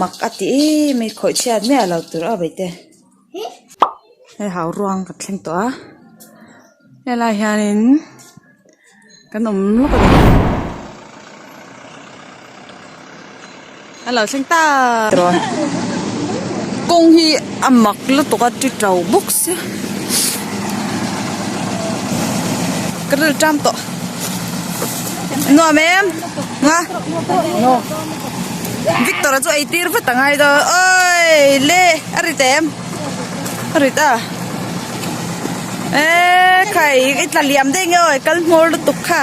mak a ti em mai khawih chhiat miah lo tur a awmte hei hau ruang kan thleng tawh a helai hianin kan awm lawk a ni. a lo thleng ta tawh a kawng hi a mak lutuk a ti to bawk sia ka rilh tam tawh nuam em nga victor chu ei tir vat angai do oi le a rit em a rit a e khai i tla liam daih nge aw kal hmawr lutuk kha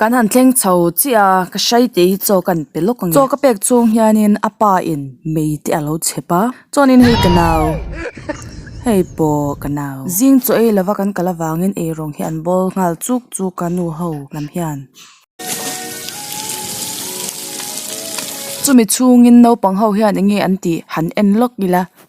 Kan han thleng chho chiah a, ka hrai teh hi chaw kan pe lawk ang e. Chaw ka pek chhung hianin a pa in mei te a lo chep a, Chaw nin hei ka nau, hei pawh ka nau. Zing chaw ei lova kan kal avangin eirawng hi an bawl nghal chuk chuk a nu ho lam hian. Chumi chhungin naupang ho hian enge an tih han en lawk ila,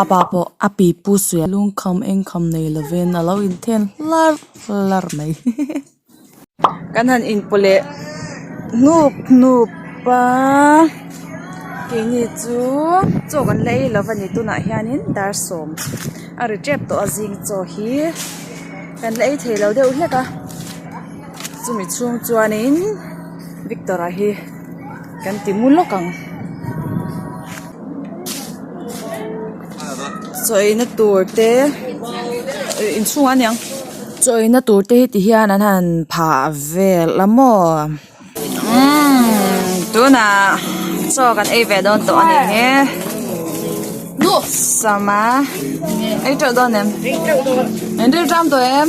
Âpa pawh a pi pu suih a, lungkham engkham nei lovin a lo inthen hlar hlar mai kan han inpawh leh hnup hnup a, keini chu chaw kan la ei lova ni tunah hianin dar sawm a ri tep tawh a zing chaw hi kan la ei thei lo deuh hlek a chumi chhung chuanin victor a hi-- kan ti mu lawk ang chawihna tur te inchhung ah a ni ang chawihna tur te hi ti hian an han phah ve la maw umm tunah chaw kan ei ve dawn tawh a nih hi sama ei teuh dawn em in ril tram tawh em.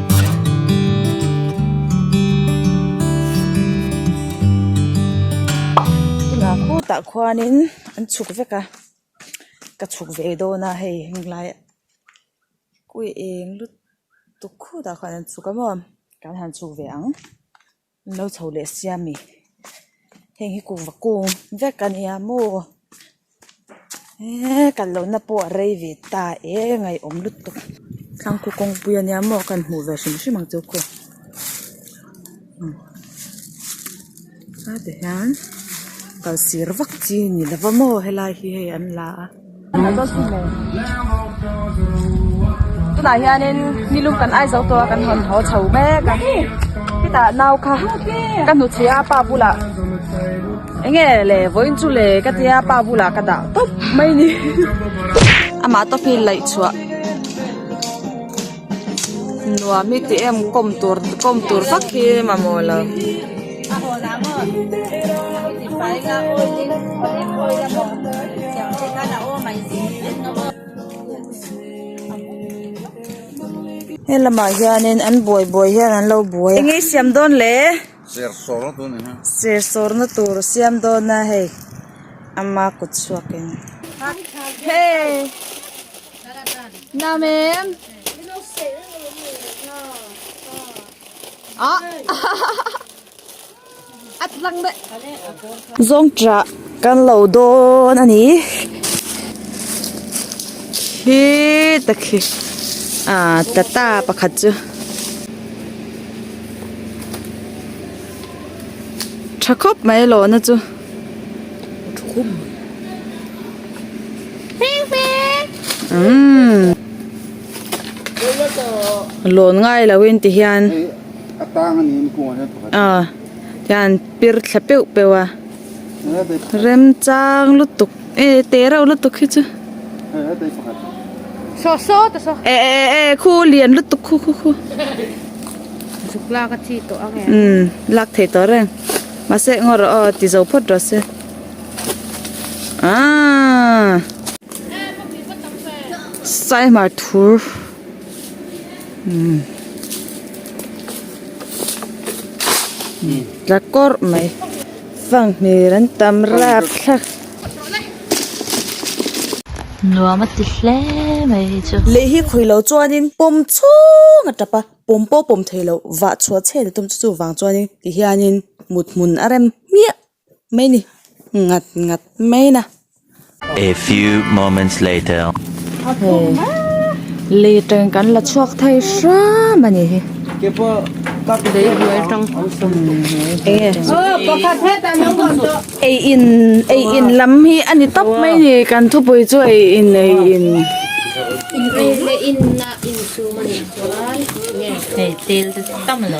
tunah khutah khuanin an chhuk vek a ka chhuk ve dawn a hei heng lai khawi eng lutuk khutah khan an chhuk a maw kan han chhuk ve ang. Min lo chho leh sia mi heng hi kung va kung vek a nia maw eehh kan lo na pawh a rei ve ta eng a i awm lutuk thlangkhu kawngpui a nia maw kan hmuh ve hrim hrim ang chu khaw a ti hian kalsir vak chi ni lova maw helai hi hei an la a. tunah hianin nilum kan aizo tawh a kan hawn haw chho mek a chutah nau kha ka hnu chhia pa bulah eng nge le vawiin chu le ka tia pa bulah ka dah tawp mai ni amah tawkin laih chhuah. Nuam i ti em kawm tur kawm tur vak hi mamawh lo. He lamah hianin an buai buai hian an lo buai a. Eng i siam dawn le. Chair sawrna tur ni hian. Chair sawrna tur siam dawn a hei ama kut chhuak in. Hey! Nam em? Ah! A tlang deuh. Zawngṭah kan lo dawn a ni. Hi takhi ah tata pakhat chu ṭha khawp mai a lawna chu umm a lawn ngai lo in ti hian ah. hian pir thla peu peu a remchang lutuk e teh reuh lutuk hi chu e e e khu lian lutuk khu khu khu umm lak thei tawh reng mahse ngaw rawh aw ti zo phawt rawh se aaa saihmar thur. tla kawrh mai fanghmir an tam rap thla nuam a ti hle mai hi chu lei hi khawi lo chuanin pawm chhung a tap a pawm pawh pawm theilo vah chhuah chheh a ni tum chu chuvang chuanin tihianin mut hmun a rem hmiah. mai ni ngat ngat mai na. A few moments later. Hei li teng kan la chhuak thei hram a nih hi. Daihbuai tang ei in ei in lam hi a ni tawp mai a ni kan thupui chu ei in ei in ei le in na in chhung a nih chuan hei tel te tam a lo.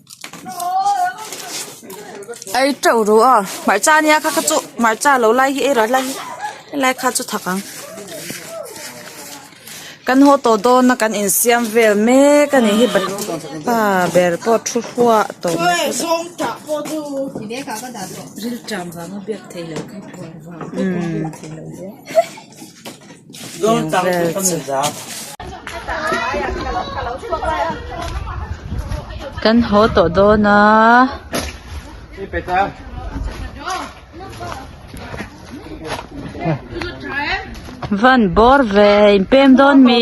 ai teuh ruh a hmarcha nia kha kha chu hmarcha lo lai hi erawh a hla hi helai kha chu tha kha kan haw tawh dawn a kan insiam vel mek a nih hi pa ber pawh thu huah tawh mai khawp mai. Kan haw tawh dawn a. Van bawr ve in pem dawn mi.